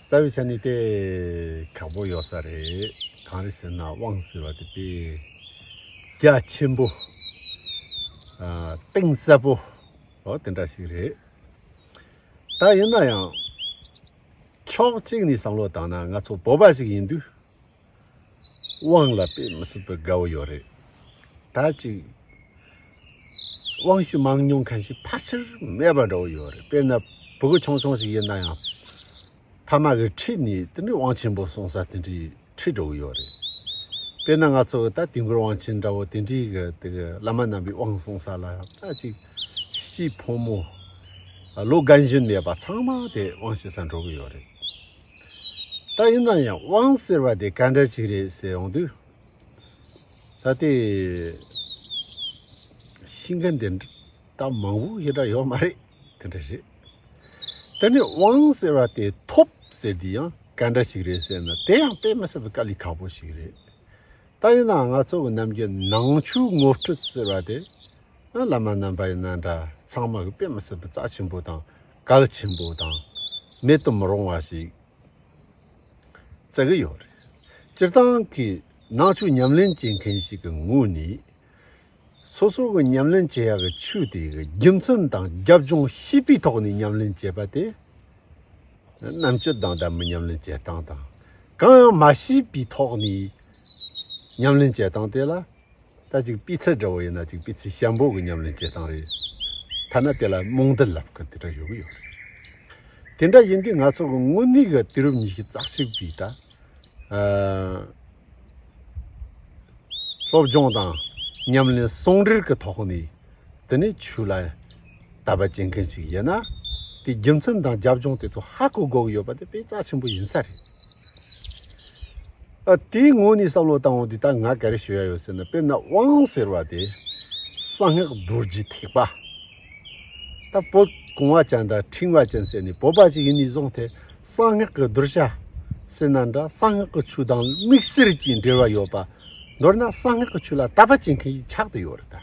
རྩ་བའི་ཆ་ནས་བལྟས། གྲགས་པོ་ཡོད་ས་རེད། གང་རེད་ཟེར་ན་དབང་ཟེར་བ་དེ་དཔེ། རྒྱ་ཆེན་པོ། གཏིང་གསལ་པོ། འོ་དེ་འདྲ་ཞིག་རེད། ད་ཡིན་ན་ཡང། ཕྱོགས་གཅིག་ནས་བསམ་བློ་བཏང་ན་ང་ཚོ་བོད་པ་ཞིག་ཡིན་དུས། དབང་ལ་དཔེ་མི་སྲིད་པའི་དགའ་བོ་ཡོད་རེད་ད། ཅིག་དབང་ཤུགས་མང་ཉུང་གང་ཞིག་ཕར་ཆེར་མེད་པ་འདྲ་བོ་ཡོད་རེད་དཔེར་ན་བུ་གུ་ཆུང་ཆུང་ཞིག་ཡིན་ན་ཡང་ཕ་མ་གི་ཁྲིད་ནས་དེ་འདྲའི་དབང་ཆེན་པོ་གསུངས་ས་དེ་འདྲའི་ཁྲིད་འདྲ་བོ་ཡོད་རེད། དཔེར་ན་ང་ཚོ་ད་དུས་འགོར་དབང་ཆེན་འདྲ་བོ་དེ་འདྲའི་གི་དེ་གི་བླ་མ་རྣམ་པའི་དབང་གསུངས་ས་ལ་ད་ཅིག་སྐྱིད་ཕོ་མོ་ལོ་རྒན་གཞོན་མེད་པ་ཚང་མ་དེ་དབང་བྱེད་ས་འགྲོ་གི་ཡོད་རེད། ད་ཡིན་ན་ཡང་དབང་ཟེར་བ་དེ་བཀའ་འདྲ་ཞིག་རེད་ཟེར་ཡོང་དུས། ད་ལྟའི་ཤིང་ཁ་འདི་འདྲ་ད་མང་བོ་ཞེ་དྲག་ཡོད་མ་རེད་དེ་འདྲ་རེད། དེ་ནས་དབང་ཟེར་བ་དེ་ཐོབ་ཟེར་དེ་ཡང་བཀའ་འདྲ་ཞིག་རེད་ཟེར་ན་དེ་ཡང་དཔེ་མི་སྲིད་པའི་དཀའ་ལས་ཁག་པོ་ཞིག་རེད། ད་ཡིན་ན་ང་ཚོ་གི་རྣམ་རྒྱལ་ནང་ཆོས་ངོ་སྤྲོད་ཟེར་བ་དེ་ནི་བླ་མ་རྣམ་པ་ཡི་རྣམ་གྲངས་ཚང་མ་གི་དཔེ་མི་སྲིད་པའི་རྩ་ཆེན་པོ་དང་གལ་ཆེན་པོ་དང་མེད་དུ་མི་རུང་བ་ཞིག་བརྩི་གི་ཡོད་རེད། སྤྱིར་བཏང་གི་ནང་ཆོས་ཉམས་ལེན་བྱེད་མཁན་ཞིག་གི་ངོས་ནས། སོ་སོ་གི་ཉམས་ལེན་བྱེད་ཡག་གི་ཆོས་དེ་གི་རྒྱུ་མཚན་དང་རྒྱབ་ལྗོངས་ཤེས་པའི་ཐོག་ནས་ཉམས་ལེན་བྱེད་པ་དེ། རྣམ་དཔྱོད་དང་འདྲ་མིན་ཉམས་ལེན་བྱེད་སྟངས་དང་གང་ཡང་མ་ཤེས་པའི་ཐོག་ནས་ཉམས་ལེན་བྱེད་སྟངས་དེ་ལ་ད་ཅིག་སྤུས་ཚད་འདྲ་བོ་ཡོད་ན་ཅིག་སྤུས་ཚད་ཞན་པོ་གི་ཉམས་ལེན་བྱེད་སྟངས་རེད། ཐ་ན་དེ་ལ་རྨོངས་དད་ལབ་མཁན་དེ་འདྲ་ཡོད་གི་ཡོད་རེད། དེ་འདྲ་ཡིན་དུས་ང་ཚོ་གི་དངོས་གནས་ཀྱི་དུས་རབས་ཉི་ཤུ་རྩ་གཅིག་པའི་ད། སློབ་སྦྱོང་དང་ཉམས་ལེན་ཟུང་འབྲེལ་གྱི་ཐོག་ནས་དེ་ནས་ཆོས་ལ་དད་པ་བྱེད་མཁན་ཞིག་ཡིན་ན་དེའི་རྒྱུ་མཚན་དང་རྒྱབ་ལྗོངས་དེ་ཚོ་ཧ་གོ་དགོས་ཀྱི་ཡོད་པ་དེ་དཔེ་རྩ་ཆེན་པོ་ཡིན་ས་རེད། དེའི་ངོས་ནས་བསམ་བློ་བཏང་བ་འདི་ལྟར་ང་ག་རེ་ཞུ་ཡ་ཡོད་ཟེར་ན་དཔེར་ན་དབང་ཟེར་བ་དེ་གསང་སྔགས་རྡོ་རྗེ་ཐེག་པ། ད་བོད་གོང་བ་ཅན་དང་ཕྲིན་བ་ཅན་ཟེར་ནས་བོད་པ་ཅིག་ཡིན་ནས་བཟུང་སྟེ་གསང་སྔགས་ཀྱི་གདུལ་བྱ་ཟེར་ན་འདྲ་གསང་སྔགས་ཀྱི་ཆོས་དང་དམིགས་བསལ་གྱི་འབྲེལ་བ་ཡོད་པ་མདོར་ན་གསང་སྔགས་ཀྱི་ཆོས་ལ་ལྟ་བ་བྱེད་མཁན་ཞིག་ཆགས་ཏེ་ཡོད་རེད་ད།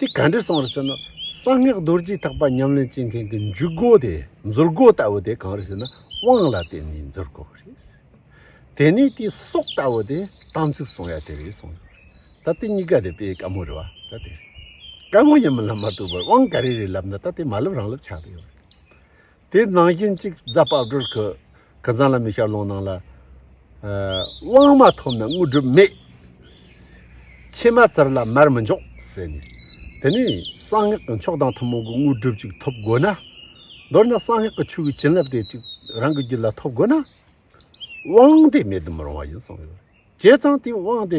དེ་ག་འདྲའི་གསང་རེད་ཟེར་ན། གསང་སྔགས་རྡོ་རྗེའི་ཐེག་པ་ཉམས་ལེན་བྱེད་མཁན་གྱི་འཇུག་སྒོ་དེ་འཛུལ་སྒོ་ལྟ་བུ་དེ་གང་རེད་ཟེར་ན་དབང་ལ་བརྟེན་ནས་འཛུལ་སྒོ་རེད། དེ་ནས་དེའི་སྲོག་ལྟ་བུ་དེ་དམ་ཚིག་བསྲུང་ཡ་དེ་རེད་གསུངས་ཡོད་རེད། ད་དེ་གཉིས་ཀ་དེ་དཔེ་དཀའ་མོ་རེད་བ་ད་དེ་རེད། དཀའ་མོ་ཡིན་མིན་ལ་མ་ལྟོས་པར་དབང་ག་རེ་རེད་ལབ་ན་ད་དེ་མ་ལབ་རང་ལབ་ཆགས་དེ་ཡོད་རེད། དེ་ནང་བཞིན་ཅིག་རྫ་པགས་སྒྲོལ་གི་ཁི་ཚང་ལ་མི་ཤར་ལོང་ནང་ལ་དབང་མ་ཐོབ་ན་དངོས་གྲུབ་མེད། ཕྱེ་མ་ཙིར་ལ་མར་མི་འཇོག་ཟེར་ནས། དེ་ནས་གསང་སྔགས་ཀྱི་མཆོག་དང་ཐུན་མོང་གི་དངོས་གྲུབ་ཅིག་ཐོབ་དགོས་ན། མདོར་ན་གསང་སྔགས་ཀྱི་ཆོས་ཀྱི་བྱིན་རླབས་དེ་གཅིག་རང་གི་རྒྱུད་ལ་ཐོབ་དགོས་ན། དབང་དེ་མེད་དུ་མི་རུང་བ་ཡིན་གསུངས་ཡོད། བྱས་ཙང་དེའི་དབང་དེ།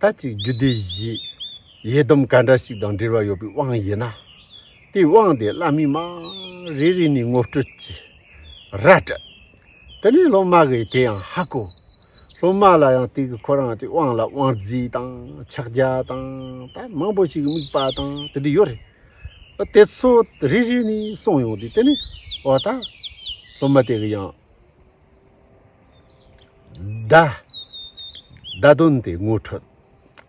ད་ཅིག་རྒྱུ་སྡེ་བཞི་ཡི་དམ་ག་འདྲ་ཞིག་དང་འབྲེལ་བ་ཡོད་པའི་དབང་ཡིན་ན། དེའི་དབང་དེ་བླ་མི་མ་རེ་རེ་ནས་ངོ་སྤྲོད་ཅི་ར་སྤྲད། དེ་ནས་སློབ་མ་གིས་དེ་ཡང་ཧ་གོ། སློབ་མ་ལ་ཡང་དེ་གི་ཁོ་རང་གི་དབང་ལ་དབང་རྫས་དང་ཕྱག་རྒྱ་དང་ད་མང་པོ་ཞིག་དམིགས་པ་དང་དེ་འདྲ་ཡོད་རེད། དེ་ཚོ་རེ་རེ་ནས་གསུངས་ཡོང་དུས་དེ་ནས་འོ་ད་སློབ་མ་དེ་གི་ཡང། བརྡ་དོན་དེ་ངོ་འཕྲོད།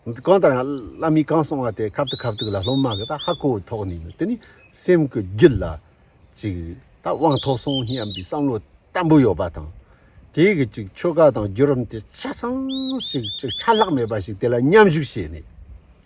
གང་ལྟར་ཡང་བླ་མའི་གང་གསུང་བ་དེ་ཁབ་ཏུ་ཁབ་ཏུ་ལ་སློབ་མ་གིས་ད་ཧ་གོ་བའི་ཐོག་ནས་དེ་ནི་སེམས་ཀྱི་རྒྱུད་ལ་ཅིག་ད་དབང་ཐོབ་སོང་སྙམ་པའི་བསམ་བློ་བརྟན་པོ་ཡོད་པ་དང། དེའི་གི་ཅིག་ཆོ་ག་དང་བརྒྱུད་རིམ་དེ་ཆ་ཚང་ཞིག་ཅིག་ཆ་ལྷག་མེད་པ་ཞིག་དེ་ལ་མཉམ་ཞུགས་བྱས་ནས།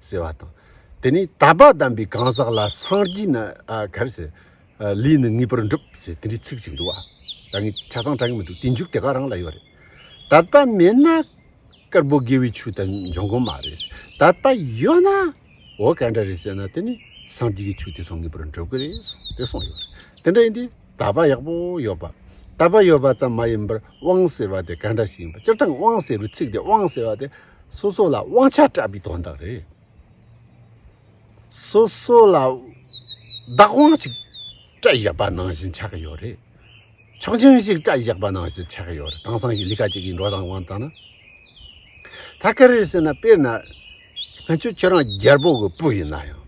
ཟེར་བ་དང། དེ་ནས་དག་པ་དམ་པའི་གང་ཟག་ལ་སངས་རྒྱས་ན་གར་ཟེར། ལུས་ནི་ངེས་པར་འགྲུབ་ཟེར་དེ་འདྲའི་ཚིག་ཅིག་འདུག་ཨ། ད་ངས་ཆ་ཚང་དྲངས་ཀྱི་མི་འདུག་དེ་མཇུག་དེ་ག་རང་ལ་ཡོད་རེད། དད་པ་མེད་ན་དཀར་པོ་དགེ་བའི་ཆོས་དང་འབྱུང་དགོས་མ་རེད། དད་པ་ཡོད་ན་འོ་ག་འདྲ་རེད་ཟེར་ན་དེ་ནི་སངས་རྒྱས་ཀྱི་ཆོས་དེ་ཚོ་ངེས་པར་འགྲུབ་གི་རེད་སོང་དེ་གསུངས་ཡོད་རེད། དེ་འདྲ་ཡིན་དུས་དད་པ་ཡག་པོ་ཡོད་པ། དད་པ་ཡོད་པ་ཙམ་མ་ཡིན་པར་དབང་ཟེར་བ་དེ་ག་འདྲ་ཞིག་ཡིན་པ་སྤྱིར་བཏང་དབང་ཟེར་བའི་ཚིག་དེ་དབང་ཟེར་བ་དེ། སོ་སོ་ལ་དབང་ཆ་སྤྲད་པའི་དོན་དག་རེད། སོ་སོ་ལ་བདག་དབང་ཞིག་སྤྲད་བཞག་པ་ནང་བཞིན་ཆགས་ཀྱི་ཡོད་རེད། ཆོག་མཆན་ཞིག་སྤྲད་བཞག་པ་ནང་བཞིན་ཆགས་ཀྱི་ཡོད་རེད་དེང་སང་གི་ལི་ཁ་ཅིག་གི་འགྲོ་སྟངས་དབང་དང་ན། ཐ་ཀ་རེད་ཟེར་ན་དཔེར་ན། ང་ཚོ་ཁྱེད་རང་རྒྱལ་པོ་གི་བུ་ཡིན་ན་ཡང།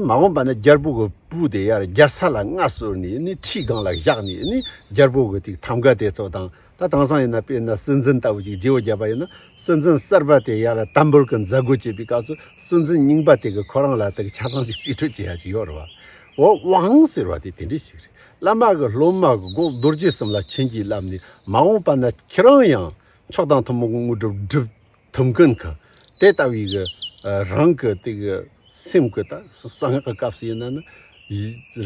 མ་འོངས་པ་ན་རྒྱལ་པོ་གི་སྤུ་དེ་ཡར་རྒྱལ་ས་ལ་མངའ་གསོལ་ནས་ནི་ཁྲིའི་སྒང་ལ་བཞག་ནས་ནི་རྒྱལ་པོ་གི་ཐིག་ཐམ་ག་དེ་ཚོ་དང་ད་དེང་སང་ཡིན་ན་དཔེར་ན་སྲིད་འཛིན་ལྟ་བུ་ཅིག་རྗེའུ་བརྒྱད་པ་ཡིན་ན་སྲིད་འཛིན་གསར་པ་དེ་ཡར་ལ་དམ་འབུལ་གི་མཛད་སྒོ་བྱེད་པའི་སྐབས་སུ་སྲིད་འཛིན་རྙིང་པ་དེ་གི་ཁོ་རང་ལ་དག་ཆ་ཚང་ཞིག་རྩིས་སྤྲོད་བྱེད་ཡ་ཅིག་ཡོད་རེད་བ། འོ་དབང་ཟེར་བ་དེ་དེ་འདྲས་ཞིག་རེད་བླ་མ་གི་སློབ་མ་གི་འགོག་རྡོ་རྗེ་གསུམ་ལ་བྱིན་གྱིས་བརླབས་ནས་མ་འོངས་པ་ན་ཁྱེད་རང་ཡང་མཆོག་དང་ཐུན་མོང་གི་དངོས་གྲུབ་བསྒྲུབས། ཐུབ་ཀུན་གྱིས་དེ་ལྟ་བུའི་གི་རང་གི་དེ་གི་སེམས་གི་ད་སང་གི་སྐབས་སུ་ཡིན་ན་ནི།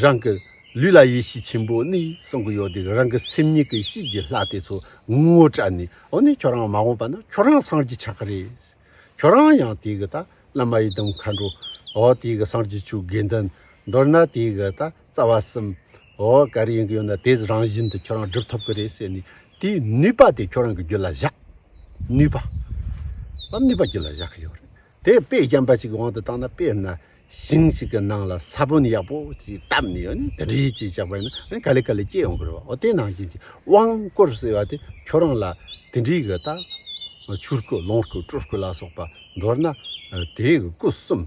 རང་གི་ལུས་ལ་ཡེ་ཤེས་ཆེན་པོ་ནི་གསུང་གི་ཡོད་དེ་རང་གི་སེམས་ཉིད་ཀྱི་ཤེས་ཀྱི་ལྷ་དེ་ཚོ་ངོ་སྤྲད་ནས་འོ་ནི་ཁྱོད་རང་མ་འོངས་པ་ན་ཁྱོད་རང་སངས་རྒྱས་ཆགས་ཀྱི་རེད། ཁྱོད་རང་ཡང་དེ་གི་ད་བླ་མ་ཡི་དམ་མཁའ་འགྲོ་འོ་དེ་གི་སངས་རྒྱས་ཆོས་དགེ་འདུན་མདོར་ན་དེ་གི་ད་རྩ་བ་གསུམ། འོ་ག་རེ་ཡིན་གྱི་ཡོད་ན་དེ་རང་བཞིན་དུ་ཁྱོད་རང་སྒྲུབ་ཐུབ་ཀྱི་རེད་ཟེར་ནས་དེའི་ནུས་པ་དེ་ཁྱོད་རང་གི་རྒྱུད་ལ་བཞག། ནུས་པ། ཨ་ནུས་པ་རྒྱུད་ལ་བཞག་གི་ཡོད་རེད། དེ་དཔེ་རྒྱན་པ་ཞིག་གི་དབང་དུ་བཏང་ན་དཔེར་ན་ཤིང་ཞིག་གི་ནང་ལ་ས་བོན་ཡག་པོ་ཞིག་བཏབ་ནས་ཡོད་ནས་དེ་རེད་ཅེས་བཞག་པ་ཡིན་ན་ག་ལེ་ག་ལེ་སྐྱེ་ཡོང་གི་རེད་བ་འོ་དེ་ནང་བཞིན་གྱི་དབང་བསྐུར་ཟེར་བ་དེ་ཁྱོད་རང་ལ་དེ་འདྲའི་གི་ད་ཆུར་བསྐུར་ལོངས་བསྐུར་སྤྲུལ་བསྐུར་ལ་སོགས་པ་མདོར་ན་དེའི་གི་སྐུ་གསུམ་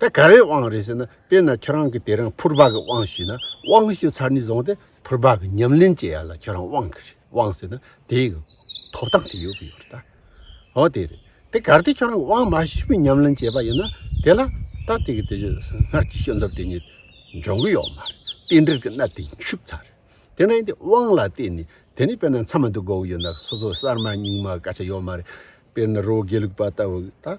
དེ་ག་རེའི་དབང་རེད་ཟེར་ན་དཔེར་ན་ཁྱེད་རང་གིས་དེ་རིང་ཕུར་སྦག་གི་དབང་ཞུས་ན་དབང་ཞུ་ཚར་ནས་བཟུང་སྟེ་ཕུར་སྦག་གི་ཉམས་ལེན་བྱེད་ཡ་ལ་ཁྱེད་རང་དབང་གི་རེད་དབང་ཟེར་ན་དེའི་གི་ཐོབ་ཐང་དེ་ཡོད་གི་ཡོད་རེད་ད། འོ་དེ་རེད་དེ་ག་རེ་དེ་ཁྱེད་རང་གི་དབང་མ་ཞུས་པའི་ཉམས་ལེན་བྱས་པ་ཡིན་ན་དེ་ལ་ད་དེ་གི་དེ་བཞིན་སྔར་གྱི་ཤེས་རྟོགས་དེ་ཉིད་འབྱུང་གི་ཡོད་མ་རེད་རྟེན་འབྲེལ་གྱི་གནད་དེ་འཆུག་ཚར་རེད་དེ་འདྲ་ཡིན་ཏེ་དབང་ལ་བརྟེན་ནས་དེ་ནས་དཔེར་ན་མཚམས་འདི་དགོས་ཡོད་ན་སོ་སོ་གསར་མ་རྙིང་མ་ག་ཚད་ཡོད་མ་རེད་དཔེར་ན་རོ་དགེ་ལུགས་པ་ལྟ་བུ་ད།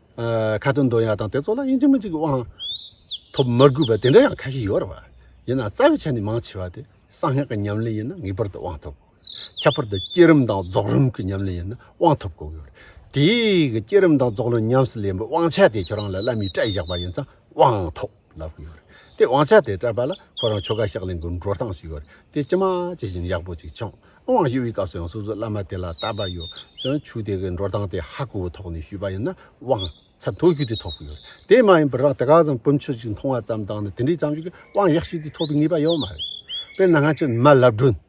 ཁ་ཏོན་འདོན་ཡག་དང་དེ་ཚོ་ལ་དབྱིན་ཇི་མི་གཅིག་གི་དབང་ཐོབ་མ་དགོས་པ་དེ་འདྲ་ཡང་ཁ་ཤས་ཡོད་རེད་བ། ཡིན་ནང་རྩ་བའི་ཆ་ནས་མང་ཆེ་བ་དེ་གསང་སྔགས་ཀྱི་ཉམས་ལེན་ཡིན་ན་ངེས་པར་དུ་དབང་ཐོབ་དགོས། ཁྱད་པར་དུ་བསྐྱེད་རིམ་དང་རྫོགས་རིམ་གྱི་ཉམས་ལེན་ཡིན་ན་དབང་ཐོབ་དགོས་ཡོད་རེད། དེའི་བསྐྱེད་རིམ་དང་རྫོགས་རིམ་ཉམས་སུ་ལེན་པའི་དབང་ཆ་དེ་ཁྱོད་རང་ལ་བླ་མའི་སྐྲ་བཞག་པ་ཡིན་ཙང་དབང་ཐོབ། ལབ་ཀྱི་ཡོད་རེད་དེ་དབང་ཆ་དེ་སྤྲད་པ་ལ་ཁོ་རང་ཆོལ་ཁ་ཕྱག་ལེན་དགོས་འགྲོ་སྟངས་ཞིག་ཡོད་རེད་དེ་ཅི་མ་ཇི་བཞིན་ཡག་པོ་ཅིག་བྱུང་དབང་ཞུ་བའི་སྐབས་སུ་ཡང་སོ་སོའི་བླ་མ་དེ་ལ་བལྟ་བ་ཡོད་བྱུང་ཆུ་དེ་གའི་འགྲོ་སྟངས་དེ་ཧ་གོ་བོའི་ཐོག་ནས་ཞུས་པ་ཡིན་ན་དབང་ཚད་མཐོ་ཤོས་དེ་ཐོབ་ཀྱི་ཡོད་རེད་དེ་མ་ཡིན་པར་རང་དེ་ག་ཙམ་སྤུན་མཆེད་ཅིག་མཐོང་བ་ཙམ་དང་ནི་དེ་འདྲའི་ཙམ་ཞིག་གིས་དབང་ཡག་ཤོས་དེ་ཐོབ་པའི་ངེས་པ་ཡོད་མ་རེད་དཔེར་ན་ང་ཚོའི་མ་ལབ་སྒྲོན།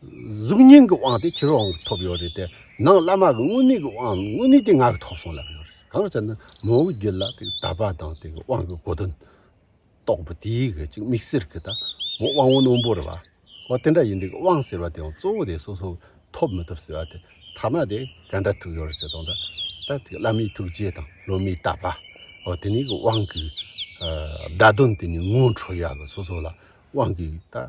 གཟུགས་བརྙན་གྱི་དབང་དེ་ཁྱེར་བའང་ཐོབ་ཡོད་རེད་དེ། ནང་བླ་མ་གི་དངོས་གནས་ཀྱི་དབང་དངོས་གནས་དེ་ང་གི་ཐོབ་སོང་ལབ་ཡོད་རེད། གང་ཟེར་ན་མོའུ་རྒྱུད་ལ་དེ་དར་པ་དང་དེ་གི་དབང་གི་གོ་དོན་རྟོགས་པ་དེའི་གི་ཅིག་དམིགས་བསལ་གི་ད་མོ་དབང་བོ་ནོམ་བོ་རེད་བ། ཨོ་དེ་འདྲ་ཡིན་དེ་གི་དབང་ཟེར་བ་དེའང་གཙོ་བོ་དེ་སོ་སོ་གི་ཐོབ་མི་ཐོབ་ཟེར་བ་དེ་ཐ་མ་དེ་ག་འདྲ་ཐུག་ཡོད་རེད་ཟེར་དང་ད་ད་དེ་གི་བླ་མའི་ཐུགས་རྗེ་དང་སློབ་མའི་དད་པ་ཨོ་དེ་ནས་གི་དབང་གི་བདག་དོན་དེ་ནི་སྔོན་འགྲོ་ཡག་གི་སོ་སོ་ལ་དབང་གི་ད།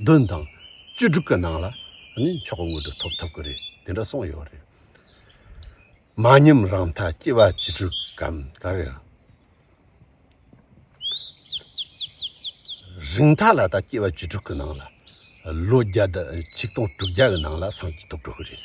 བདུན་དང་བཅུ་དྲུག་གི་ནང་ལ་ནི་མཆོག་དངོས་གྲུབ་ཐོབ་ཐུབ་ཀྱི་རེད་དེ་འདྲ་གསུངས་ཡོད་རེད། མ་ཉམས་རང་ཐག་སྐྱེ་བ་བཅུ་དྲུག་གམ་ག་རེ། རིང་ཐག་ལ་ད་སྐྱེ་བ་བཅུ་དྲུག་གི་ནང་ལ། ལོ་བརྒྱ་དང་ཆིག་སྟོང་དྲུག་བརྒྱ་གི་ནང་ལ་སངས་རྒྱས་ཐོབ་འགྲོ་གི་རེད།